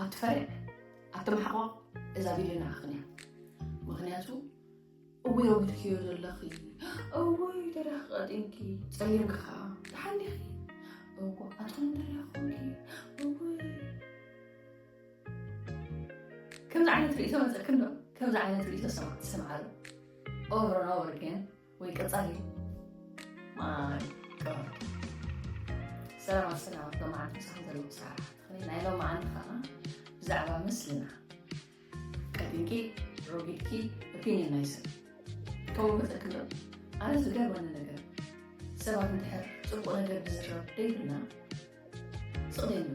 ኣቲ ፈርያ ኣቲ ማሕቆቅ እዛ ቪድዮ ንዓኽን እያ ምክንያቱ እውይ ኣውድክዮ ዘለኺ እውይ ተሪኽ ቀጢንኪ ፀሊምኪ ከዓ ተሓሊኺ እዋ ኣቶም ደሪኹኪ እውይ ከምዚ ዓይነት ርእቶ መፀክን ዶ ከምዚ ዓይነት ርእቶ ሰማዕዶ ኦቨር ኦቨር ግን ወይ ቀፃሊ ማይ ቀበሮ ሰላም ኣሰላም ሎማዓንቲ ምሳኹም ዘለዎ ሰዓት ትኽእል ናይ ሎማዓንቲ ከዓ ብዛዕባ ምስልና ቀዲምኪ ሮጊድኪ ኦፒኒየን ናይ ሰብ ከምኡ ክጠቅም ኣነ ዝገርመኒ ነገር ሰባት እንድሕር ፅቡቅ ነገር ብዝረብ ደይብልና ጽቕጢ እዩ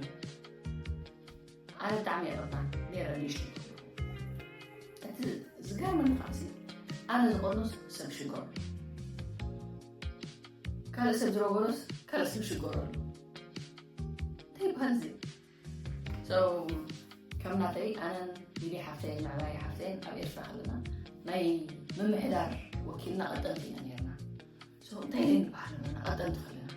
ኣነ ብጣዕሚ እየ ቕጣ ነረ ንእሽቶ እቲ ዝገርመኒ ከዓ ኣነ ዝቆኖስ ሰብ ሽጎር ካልእ ሰብ ዝረጎኖስ ካልእ ሰብ ሽጎር ኣሎ እንታይ ይበሃል እዚ ከም ናተይ ኣነን ሊሊ ሓፍተይን ምዕባይ ሓፍተይን ኣብ ኤርትራ ከለና ናይ ምምሕዳር ወኪልና ቐጠልቲ ኢና ነርና እንታይ ዘይ ንባህር ንቐጠል ትኽእል ኢና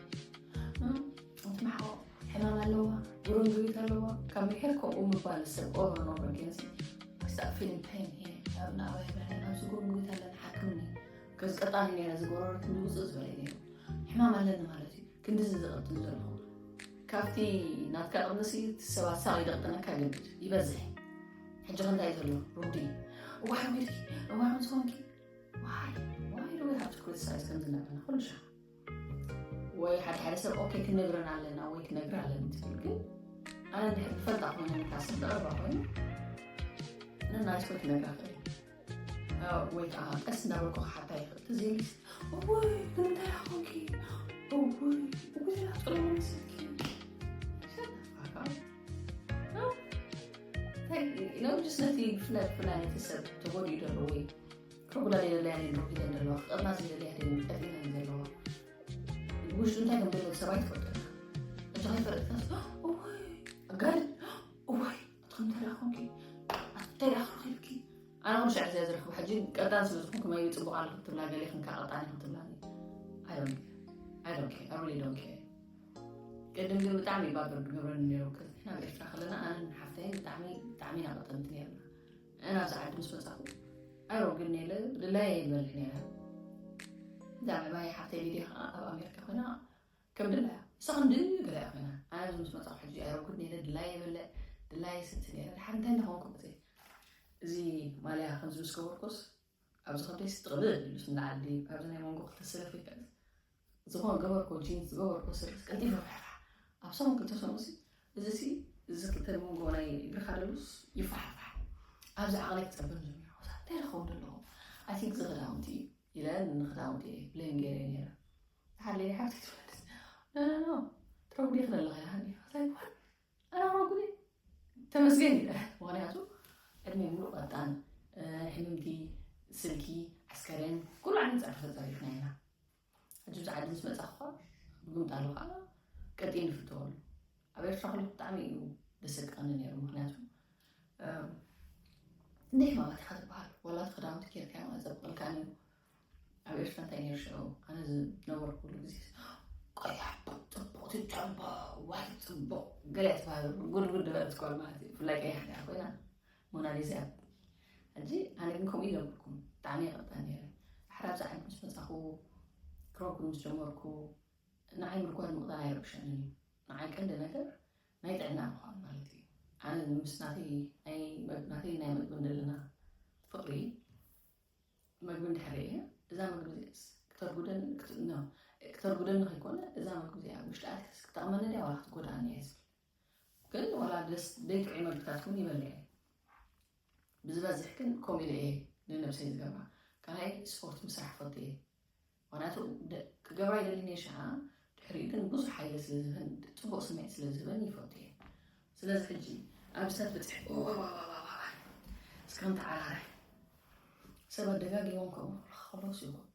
እቲ መሓቆ ሕማም ኣለዋ ጉርንጉሪት ኣለዋ ካብ ምሕር ከምኡ ምባል ሰብ ኦሮኖ በጊንስ ክሳብ ፊልም ታይም እየ ኣብ ናባይ ብርሃን ኣብዚ ጉርንጉሪት ኣለና ሓክምኒ ከዝቀጣኒ ነረ ዝጎረሮ ክንዲ ውፅእ ዝበለ ነይሩ ሕማም ኣለኒ ማለት እዩ ክንዲዚ ዝቐጥል ዘለኹ ካብቲ ናትካ ቅንሲ ሰባት ሳቕ ይደቕጥነካ ይልምድ ይበዝሕ ሕጂ ክንታይ ዘሎ ሩዲ እዋን ቢልኪ እዋን ዝኾንኪ ወይ ሓደ ሓደ ሰብ ኦኬ ክነግረን ኣለና ወይ ክነግር ኣለን ትብል ግን ኣነ ድሕር ትፈልጣ ኮይነ ንካስ ዝቐረባ ኮይኑ ንናይስኮ ክነግራ ክእል ወይ ከዓ ቀስ እናበልኩ ክሓታ ይኽእል ትዘይልስ ወይ እንታይ ኾንኪ ወይ ጥሩ መስልኪ ነብስ ነቲ ብፍላይ ብፍላይ ነቲ ሰብ ተጎዲኡ ዘሎ ወይ ከጉዳ ዘለያ ዶ ሒዘን ዘለዋ ክቐርና ዝደለያ ጠፊተን ዘለዋ ብውሽጡ እንታይ ከም ዘሎ ሰብኣይ ትፈልጠካ እቲ ከይፈለጥካ እዋይ ኣጋል እዋይ ኣትኩም ተላኹምኪ ኣተላኽልኪ ኣነ ኩሉ ሻዕ እዚኣ ዝረክቡ ሕጂ ቀጣን ስለ ዝኾንኩ መይ ፅቡቅ ኣለኩ ትብላ ገሌ ክንካ ቀጣን ይኹ ትብላ ኣይዶን ኣይዶን ኣይዶን ቅድም ግን ብጣዕሚ እባ ብርድ ገብረኒ ነይሩ ቅድሚ ናብ ኤርትራ ከለና ኣነን ሓፍተይን ብጣዕሚ ብጣዕሚ ኢና ቅጥምት ነይርና ኣነ ኣብዚ ዓዲ ምስ መጻኹ ዕሮ ግን ነለ ድላየ ይበልሕ ነይረ እዛ ዕባይ ሓፍተይ ሊድያ ከዓ ኣብ ኣሜሪካ ኮይና ከም ድላያ ንሳ ከም ድል ገለያ ኮይና ኣነ ኣብዚ ምስ መጻኹ ሕጂ ዕሮ ግን ነለ ድላየ ይበልዕ ድላየ ስቲ ነይረ ድሓር እንታይ እንዳኾንኩ እዚ ማልያ ከምዚ ምስ ገበርኩስ ኣብዚ ኮንቴክስት ጥቕልል ኣቢሉስ ንላዕሊ ካብዚ ናይ መንጎ ክልተ ስለ ፍልጠት ዝኾነ ገበርኮ ጂንስ ዝገበርኮ ስርስ ቀልጢፈ ፍሕፋሕ ኣብ ሰሙን ክልተ ሰሙንሲ እዚ ሲ እዚ ክልተ መንጎ ናይ እግርኻ ደሉስ ይፋሕፋሕ ኣብዚ ዓቕለይ ክፀብም ዝብል ሓውሳ እንታይ ረኸቡ ደለኹ ኣይ ቲንክ እዚ ክዳውንቲ እዩ ኢለ ንክዳውንቲ እየ ብሌም ገይረ ነይረ ሓለይ ሓብቲ ትፈልጥ ኖ ኖ ኖ ትረጉዲ ክደለኸ ያሃኒ ኣራሮ ግን ተመስገን ይበሃል ምክንያቱ ዕድሜ ሙሉእ ቀጣን ሕምምቲ ስልኪ ዓስከሬን ኩሉ ዓይነት ፃዕሪ ተፀሪፍና ኢና ሕጂ ብዚ ዓዲ ምስ መፃ ክኳ ብምጣሉ ከዓ ቀጢ ንፍትወሉ ኣብ ኤርትራ ክሉ ብጣዕሚ እዩ ደሰቀኒ ነይሩ ምክንያቱ እንደ ሕማማት ኢካ ዝበሃል ዋላ እቲ ክዳውንቲ ጌርካ ማለት ዘብቀልካ ነይሩ ኣብ ኤርትራ እንታይ ነይሩ ሽዑ ኣነ ዝነበርኩሉ ግዜ ቆያ ሕቡቅ ፅቡቅ ትጨቦ ዋይ ፅቡቅ ገለ ትባህሉ ጉድጉድ በለት ጓል ማለት እዩ ብፍላይ ቀያሕ ዲኣ ኮይና ሞናሊዛ እያ ሕጂ ኣነ ግን ከምኡ ይነበርኩም ብጣዕሚ ይቐጣ ነይረ ሓራ ብዛ ዓይነት ምስ መፃኹ ክረኩ ምስ ጀመርኩ ንዓይ ምርኳድ ምቕጣን ኣይረብሸንን እዩ ንዓይ ቀንዲ ነገር ናይ ጥዕና ምዃን ማለት እዩ ኣነ ምስ ናተይ ናይ መግቢ እንደለና ፍቕሪ መግቢ እንድሕር ርእየ እዛ መግቢ እዚኣስ ክተርጉደኒ ክት- no፣ ክተርጉደኒ ከይኮነ እዛ መግቢ እዚኣ ውሽጢ ኣትያስ ክጠቕመኒ ድያ ዋላ ክትጎድኣኒ እያ ዝብል ግን ዋላ ደስ ደይጥዑ መግብታት እውን ይበልዕ እየ ብዝበዝሕ ግን ከምኡ ኢለ እየ ንነብሰይ ዝገብራ ካልኣይ ስፖርት ምስራሕ ፈቱ እየ ምክንያቱ ክገብራ ይደሊ ነየ ሽሃ ድሕሪኡ ግን ብዙሕ ሓይሊ ስለ ዝህበን ፅቡቅ ስምዒት ስለ ዝህበን ይፈቱ እየ ስለዚ ሕጂ ኣብ ሰብ ብፅሕ እስከም ተዓራራይ ሰብ ኣደጋጊሞም ከምኡ ክኸሎስ ይኹን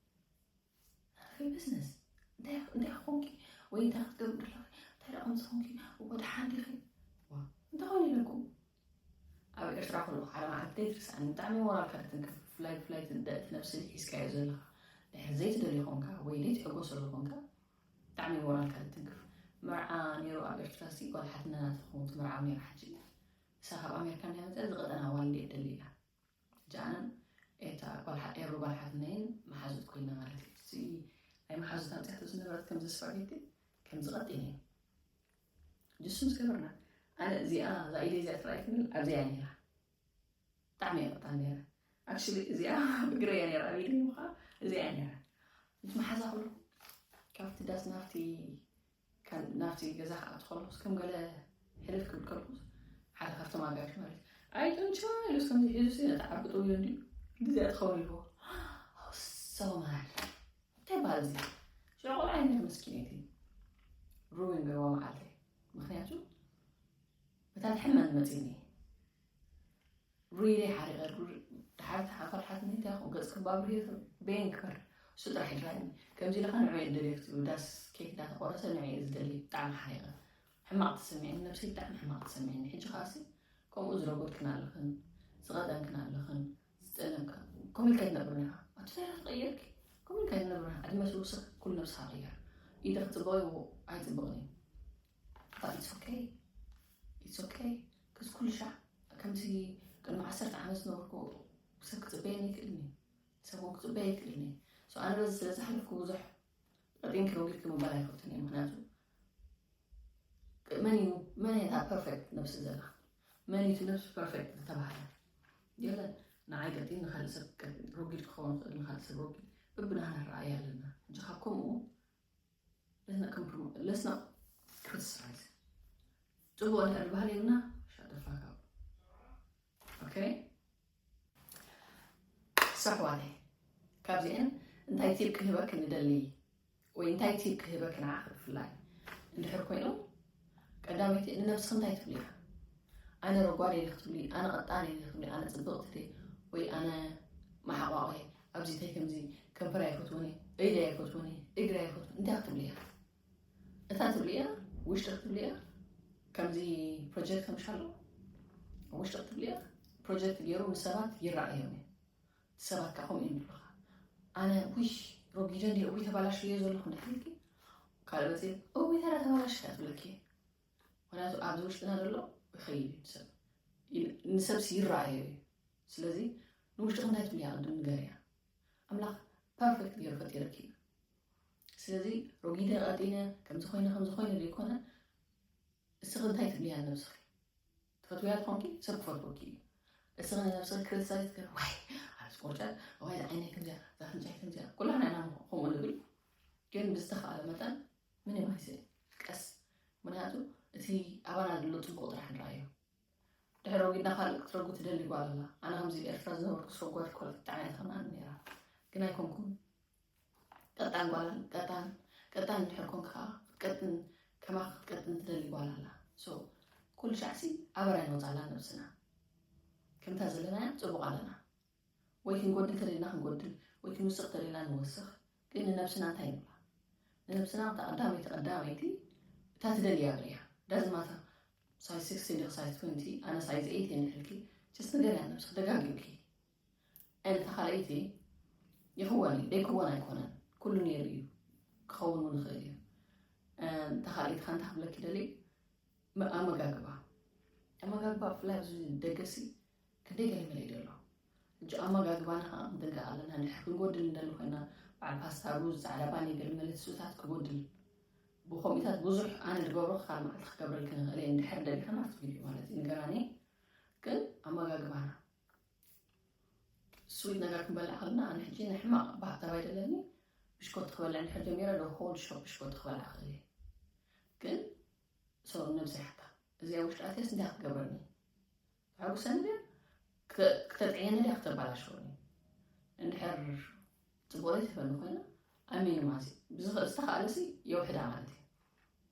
ናተይ ብዝነስ እንታይ እንታይ ኮንኪ ወይ እንታይ ክትገብር ደለኺ እንታይ ደኣ ከምዚ ኮንኪ ወደ ሓንዲኺ እንታይ ኮን ኢለኩም ኣብ ኤርትራ ከለኩ ሓደ መዓልቲ ከይትርስዓኒ ብጣዕሚ ሞራልካ ትትንክፍ ብፍላይ ብፍላይ እቲ ንድሕቲ ነብሲ ሒዝካዮ ዘለካ ድሕሪ ዘይትደልዮ ኮንካ ወይ ዘይትሕጎሰሉ ኮንካ ብጣዕሚ ሞራልካ ትትንክፍ መርዓ ነይሩ ኣብ ኤርትራ ሲ ጓል ሓትነና ትኸውን ትምርዓው ነይራ ሕጂ እሳ ካብ ኣሜሪካ ናይ መፅኣ ዝቐጠና ዋል እንዴት ደሊ ኢላ ሕጂ ኣነን ኤታ ጓል ሓ- ኤሩ ጓል ሓትነይን መሓዙት ኮይና ማለት እዩ እዚ ናይ መሓዙት ኣምፅያቶ ዝነበረት ከምዚ ስፓጌቲ ከምዚ ቀጢን እዩ ንሱ ምስ ገበርና ኣነ እዚኣ እዛ ኢደይ እዚኣ ጥራይ ትብል ኣብዚኣ እያ ነይራ ብጣዕሚ እያ ቅጣን ነይራ ኣክቹሊ እዚኣ ብግረይ እያ ነይራ ኣብ ኢደይ እሞ ከዓ እዚኣ እያ ነይራ ምስ መሓዛ ከለኹ ካብቲ ዳስ ናብቲ ካብ ናብቲ ገዛ ክኣቱ ከለኹስ ከም ገለ ሕልፍ ክብል ከለኹስ ሓደ ካብቶም ኣጋሽ ማለት ኣይ ጡንቻ ኢሉስ ከምዚ ሒዙስ ነቲ ዓርኩ ጥውዮ እንዲ ግዜ ትኸውን ኢልዎ ሰማል እንታይ በሃል እዚ ሽዑ ቆልዓ ይምህር መስኪነይቲ ሩዊን ገርዋ መዓልተይ ምክንያቱ እታ ትሕመን መፂኒ ሩይለይ ሓሪቐ ድሓር ተሓፈልሓትኒ እንታይ ኹ ገፅ ክባብር በየን ክበር እሱ ጥራሕ ይራኒ ከምዚ ኢልካ ንዑ የደልየ ክትብሉ ዳስ ኬክ ዳተቆረሰ ንዑ እየ ዝደሊ ብጣዕሚ ሓሪቐ ሕማቕ ተሰሚዐኒ ነብሰይ ብጣዕሚ ሕማቕ ተሰሚዐኒ ሕጂ ከዓሲ ከምኡ ዝረጎድክን ኣለኽን ዝቐጠንክን ኣለኽን ዝጠለምካ ከምኡ ኢልካ ኣይትነብርን ኢኻ ኣብቲ ታሪኽ ትቕየርኪ ከምኡ ኢልካ ኣይትነብርን ኢኻ ዕድመ ትውስኽ ኩሉ ነብስኻ ቅየር ኢደ ክፅበቕ እዩ ኣይፅብቕን እዩ but it's okay it's okay ክስ ኩሉ ሻዕ ከምዚ ቅድሚ ዓሰርተ ዓመት ዝነበርኩ ሰብ ክፅበየኒ ይክእልኒ ሰብ እውን ክፅበየ ይክእልኒ ሶ ኣነ በዚ ስለ ዝሓለፍኩ ብዙሕ ረጢንኪ ረጊድኪ ምባል ኣይፈትን እየ ምክንያቱ መን እዩ መን እየታ ፐርፌክት ነብሲ ዘላ መን እዩ ነብሲ ፐርፌክት ዝተባሃለ የለን ንዓይ ቀጢን ንካልእ ሰብ ቀጢን ሮጊድ ክኸውን ይኽእል ንካልእ ሰብ ሮጊድ በብናህና ኣረኣእያ ኣለና ሕጂ ካብ ከምኡ ለስና ከምፕሮ ለስና ክሪቲሳይዝ ጽቡቕ እንድሕር ዝበሃል የብና ሻደፋካ ኦኬ ሳሕዋተይ ካብዚኤን እንታይ ቲብ ክህበክ ንደሊ ወይ እንታይ ቲብ ክህበኪ ንዓኺ ብፍላይ እንድሕር ኮይኑ ቀዳመይቲ ንነብስኺ እንታይ ትብልያ ኣነ ረጓድ እየ ክትብሊ ኣነ ቀጣን እየ ክትብሊ ኣነ ፅብቕቲ እየ ወይ ኣነ ማሓቋቕ እየ ኣብዚ እንታይ ከምዚ ከንፈር ኣይፈትውን እየ ኢደ ኣይፈትውን እየ እግሪ ኣይፈትውን እንታይ ክትብሊ እያ እታ ትብሊ እያ ውሽጢ ክትብሊ እያ ከምዚ ፕሮጀክት ከምሻሎ ውሽጢ ክትብሊ እያ ፕሮጀክት ገይሩ ንሰባት ይረኣዮም እዩ ሰባት ከኣ ከምኡ እዮም ዝብሉኻ ኣነ ውይ ረጒደ እንዲ እውይ ተባላሽዮ ዘለኹ እንዳሓልኪ ካልእ መፅእ እውይ ተራ ተባላሽካ ትብለኪ እየ ምክንያቱ ኣብዚ ውሽጥና ዘሎ ይኸይድ እዩ ሰብ ንሰብሲ ይረኣዮ እዩ ስለዚ ንውሽጥኹም እንታይ ትብልያ ቅድም ንገርያ ኣምላኽ ፐርፌክት ገይሩ ፈጢረኪ እዩ ስለዚ ረጒደ ቀጢነ ከምዚ ኮይነ ከምዚ ኮይነ ዘይኮነ እስኺ እንታይ ትብልያ ነብስኺ ትፈትውያ ተኾንኪ ሰብ ክፈትወኪ እዩ እስኺ ንነብስኺ ክርሳይ ትገር ዋይ ኣብዚ ቆርጨት ዋይ ዝዓይነይ ከምዚያ ዛፍንጫይ ከምዚያ ኩላና ኢና ከምኡ ንብል ግን ብዝተኸኣለ መጠን ምን ይማይዘ ቀስ ምክንያቱ እቲ ኣባና ዘሎ ፅቡቅ ጥራሕ ንረኣዮ ድሕሪ ወጊድና ካልእ ክትረጉ ትደሊ ጓል ኣላ ኣነ ከምዚ ኤርትራ ዝነበርኩ ሰጓድ ኮለት ጣዕና ተኸናኒ ነራ ግን ኣይኮንኩም ቅጣን ጓላን ቅጣን ቅጣን እንድሕር ኮንካ ከዓ ክትቀጥን ከማኻ ክትቀጥን ትደሊ ጓል ኣላ ሶ ኩሉ ሻዕሲ ኣበራይ ንወፃላ ነብስና ከምታ ዘለናያ ፅቡቅ ኣለና ወይ ክንጎድል ተደልና ክንጎድል ወይ ክንውስኽ ተደልና ንወስኽ ግን ንነብስና እንታይ ንብላ ንነብስና እታ ቀዳመይቲ ቀዳመይቲ እታ ትደልያ ብርያ ዳዝማታ ሳይዝ 16 ዲኺ ሳይዝ 20 ኣነ ሳይዝ 8 እየ ንሕልኪ ጭስ ንገርያ ነብስኺ ደጋጊምኪ ኣይነታ ካልኣይቲ ይኽወን እዩ ደይክወን ኣይኮነን ኩሉ ነይሩ እዩ ክኸውን እውን ይኽእል እዩ እታ ካልኣይቲ ከ እንታይ ክብለኪ ደልየ ኣመጋግባ ኣመጋግባ ብፍላይ ኣብዚ ደገሲ ክንደይ ገለመለ እዩ ዘሎ ሕጂ ኣመጋግባና ከዓ ክንጥንቀቕ ኣለና ንድሕር ክንጎድል እንደለ ኮይና በዓል ፓስታ ሩዝ ፃዕዳ ባኒ ገለመለ ትስብታት ክጎድል ብኮምኢታት ብዙሕ ኣነ ዝገብሮ ክካል መዓልቲ ክገብረልክ ንኽእል እየ እንድሕር ደሊኽን ኣብቲ ቪድዮ ማለት እዩ ንገራኒ ግን ኣመጋግባና ስዊት ነገር ክንበልዕ ከለና ኣነ ሕጂ ንሕማቕ ባህታዊ ኣይደለኒ ብሽኮቲ ክበልዕ እንድሕር ጀሚረ ዶ ሆል ሾ ብሽኮቲ ክበልዕ ክእል እየ ግን ሰው ነብሲ ሓታ እዚኣ ውሽጢ ኣትያስ እንታይ ክትገብረኒ ተሐጉሰኒ ድያ ክተጥዕየኒ ድያ ክተባላሸወኒ እንድሕር ፅቡቅ ዘይትህበኒ ኮይና ኣሚኑ ማለት እዩ ብዝኽእል ዝተኽኣለሲ የውሕዳ ማለት እዩ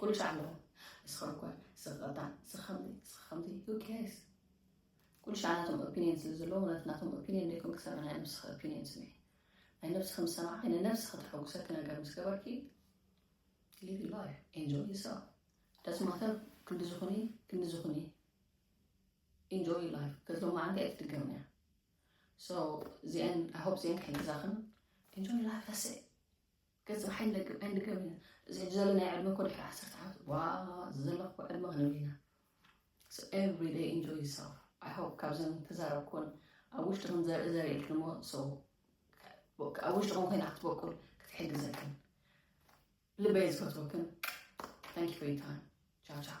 ኩሉ ሳዕ ኣለኹ ንስኻ እኳ ንስኻ ቀጣዕ ንስኻ ከምዚ ንስኻ ከምዚ who cares ኩሉ ሳዕ ናቶም ኦፒኒየን ስለ ዘለዎ ምክንያቱ ናቶም ኦፒኒየን ደይኮን ክሰምዕ ናይ ነብስኻ ኦፒኒየን ስምዒ ናይ ነብስኻ ምስ ሰማዕኺ ንነብሲ ከተሐጉሰኪ ነገር ምስ ገበርኪ ሊቭ ላይፍ ኤንጆይ ዩሰልፍ ደስ ማተር ክንዲ ዝኹኒ ክንዲ ዝኹኒ ኢንጆይ ላይፍ ከዚ ሎማ ዓንቲ ኣይትድገምና እያ ሶ እዚአን ኣይ ሆፕ እዚአን ከይገዛኽን ኢንጆይ ላይፍ ዳሴ ከጽባሕ ኣይንደግም ኣይንድገም ኢና እዚ ዘሎ ናይ ዕድመ እኮ ድሕሪ ዓሰርተ ዓመት ዋው እዚ ዘለኩ እኮ ዕድመ ክንብል ኢና so every day enjoy yourself i hope ካብዘን ተዛረብኩን ኣብ ውሽጥኹም ዘርኢ ዘሪእልክሞ so ኣብ ውሽጥኹም ኮይና ክትበቁል ክትሕግዘክን ልበይ ዝፈትወክን thank you for your time ciao ciao